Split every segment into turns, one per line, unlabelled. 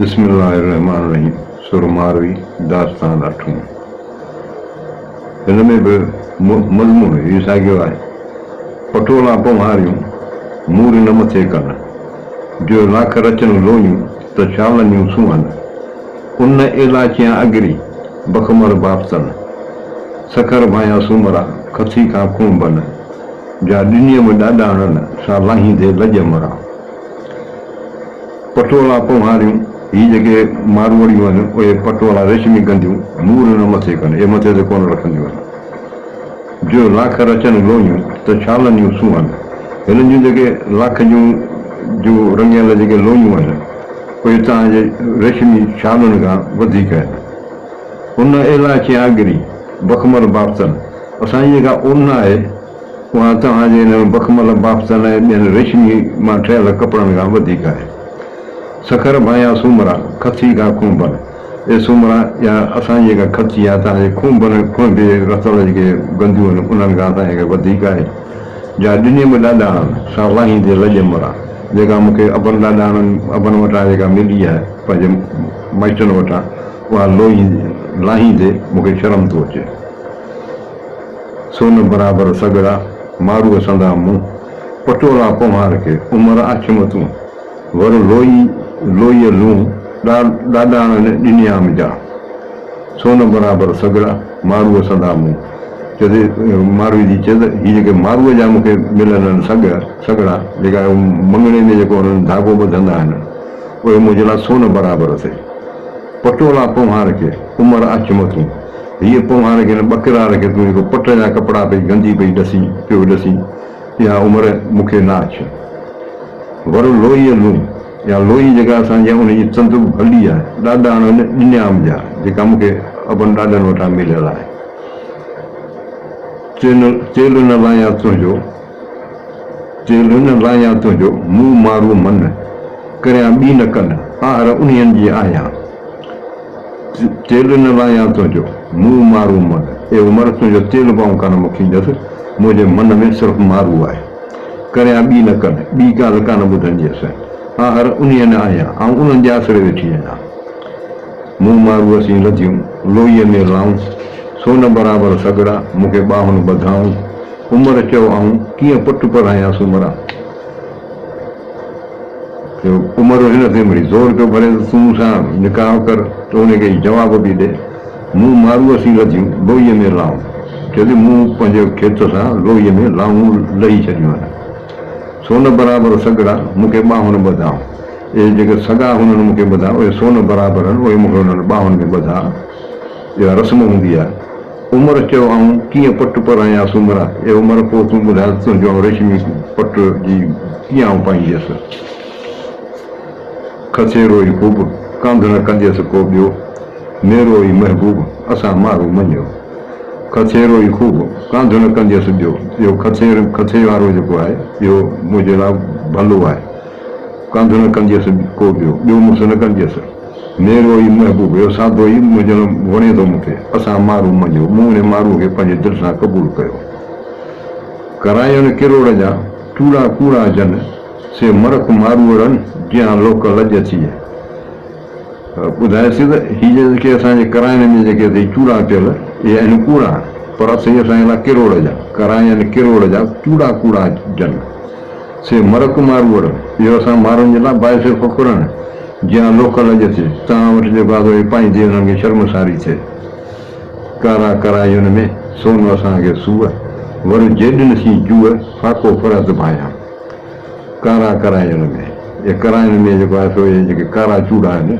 بسم الله الرحمٰن الرحيم سورة ماروي داستان اٺون هن ۾ به مضمون اهوئي ساڳيو آهي پٽولا پنهاريون مور نه مٿي ڪن جو لاک رچن لويون ته شالنيون سونهن ان ايلاچيان اگري بخمر بافتن سکر ڀايان سومرا کٿي کان کونڀن جا ڏنيم ڏاڏاڻن سان لاهيندي لڄ مران. پٽولا پونهاريون، هي جيڪي ماروئڙيون آهن، اهي پٽولا، ريشمي گنڍيون، مور نه مٿي ڪن، اهي مٿي تي ڪونه رکنديون آهن. جو لاک رچن لوهيون، ته ڇالن جون سونهن. هنن جون جيڪي لاک جون جو رڱيل جيڪي لوهيون آهن، اهي تان جي ريشمي ڇالن کان وڌيڪ آهن. ان ايلاچي آگري، بخمر بابتن، اسان جي جيڪا اونهه آهي، اها توهان جي انهن بخمل بافتن ۽ ٻين ريشمي مان ٺهيل ڪپڙن کان وڌيڪ آهي. سکر ڀانئيا سومرا، کٿي کان کونڀن. اي سومرا، اها اسان جي جيڪا کٿي آهي، توهان جي کونڀن، کونڀي، رتل جيڪي گنديون آهن، انهن کان اسان جي ڪا وڌيڪ آهي؟ جا ڏني مون ڏاڏاڻن، سا لاهيندي لڄ مران، جيڪا مون کي ابن ڏاڏاڻن، ابن وٽان جيڪا ملي آهي، پنهنجن مائٽن وٽان، اها لوهيندي، لاهيندي مون کي شرم ٿو اچي. سون برابر سڳڙا مارو سندا مون، پٽولا پونهار کي عمر آڇيم تون، ور لوئي لوئيء لون، ڏاڏاڻن ڏنيام جا. سون برابر سڳڙا مارو سندا مون. چيسي ماروئي جي چيس هي جيڪي ماروئي جا مون کي ملن آهن سڳ، سڳڙا، جيڪا مڱڻي ۾ جيڪو انهن ڌاڳو ٻڌندا آهن، اهي منهنجي لاء سون برابر اٿئي. پٽولا پونهار کي. عمر اچ مٿون هيء پونهار کي نه ٻڪرار کي تون جيڪو پٽ جا ڪپڙا پئي گندي پئي ڏسين پيو ڏسين اها عمر مون کي نه اچ ور لوئيء لون يا لوئي جيڪا اسان جي ان جي تندو ڀلي آهي ڏاڏاڻن ڏنيام جا جيڪا مون کي ابن ڏاڏن وٽان مليل آهي چيل چيل نه لايان تنهنجو چيل نه لايان تنهنجو مون مارو من ڪريان ٻي نه ڪن آهر انهين جي آهيان. تيل نه لايان تنهنجو، مون مارو مڙ اي عمر تنهنجو تيل بئون ڪانه مون کي ڄس، منهنجي من ۾ صرف مارو آهي. ڪريان ٻي نه ڪن، ٻي ڳالهه ڪانه ٻڌنديس. آهر انهيء ۾ آهيان، آئون انهن جي آسري ويٺي آهيان. مون مارو سين لڌيون، لوئيء ۾ لائون، سون برابر سڳڙا، مون کي ٻانهن ٻڌائون. عمر چئو آئون ڪيئن پٽ پرڻايان سومرا. عمر هن تي وري زور پيو ڀري ته تون مون سان نڪاح ڪر، توڙي ڪي جواب به ڏي. مون مارو اسين لڌيون لوئيء ۾ لانهون. چيو ته مون پنهنجي کيت سان لوئيء ۾ لانهون لهي ڇڏيون آهن. سون برابر سڳڙا مون کي ٻانهن ٻڌائون. اهي جيڪي سڳا هنن مون کي ٻڌا، اهي سون برابر هن، اهي مون کي هنن ٻانهن ۾ ٻڌا. اها رسم هوندي آهي. عمر چيو، آئون ڪيئن پٽ پرڻان يا سومرا؟ اي عمر! پوء تون ٻڌاء ته تنهنجو آئون ريشمي پٽ جي ڪيئن آئون پائينديس؟ کسيرو ئي خوب، ڪنڌ نه ڪنديس ڪو ٻيو، ميرو ئي محبوب، اسان مارو مڃيو. کسيرو ئي خوب، ڪنڌ نه ڪنديس ٻيو. اهو کسير، کسي وارو جيڪو آهي، اهو منهنجي لاء ڀلو آهي. ڪنڌ نه ڪنديس ڪو ٻيو، ٻيو مس نه ڪنديس. نيرو اي محبوب اهو سادو اي مجڻ وڻي ٿو مون کي اسان مارون منجهو مون انهي مارون کي پنهنجي دل سان قبول ڪيو ڪرايون ڪروڙ جا چوڙا ڪوڙا جن سي مرڪ ماروئڙن جيان لوڪ لڄ ٿئي ٻڌائي سي ته هي جيڪي اسان جي ڪراين ۾ جيڪي اٿئي چوڙا ڪيل اهي آهن ڪوڙا پر اٿئي اسان جي لاء ڪروڙ جا ڪراين ڪروڙ جا چوڙا ڪوڙا جن. سي مرڪ ماروئڙ، اهو اسان ماروئڙن جي لا باعث فخر آهي، جيان لوڪ لڄ ٿئي، تان وٺ جيڪو آڌو هي پائين ٿي انهن کي شرمساري ٿئي. ڪارا ڪرايون ۾ سون اسان کي سوء، ور جيڏن سين جوء، فاقو فرهد ڀايان. ڪارا ڪرايون ۾، اهي ڪرايون ۾ جيڪو آهي سو اهي جيڪي ڪارا چوڙا آهن،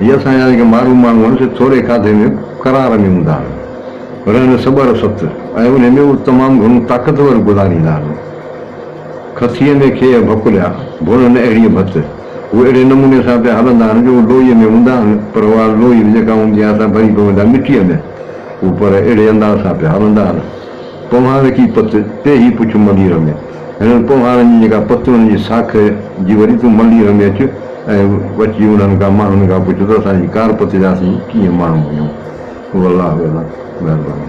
جي اسان يعني ڪي مارو ماڻهو آهن سي ٿوري کاڌي ۾ قرار ۾ هوندا آهن رهن سٻر ست ۽ انهي ۾ اهو تمام گهڻو طاقتور گذاريندا آهن کٿيء ۾ کيهه ڀڪليا ڀونن اهڙي ڀت اهي اهڙي نموني سان پيا هلندا آهن جو اهي لوئي ۾ هوندا آهن پر اها لوئي به جيڪا هوندي آهي سا ڀري پويندا مٽيء ۾ اهو پر اهڙي انداز سان پيا هلندا آهن پوهان رکي پت پيهي پڇ ملير ۾. هنن ڪونهارن جي جيڪا پتون جي ساک جي وري تون منڊي رمي اچ ۽ وٺجي انهن کان ماڻهن کان پڇ ته اسان جي ڪار پتي جا اسين ڪيئن ماڻهو آهيون والله اعلم مهرباني.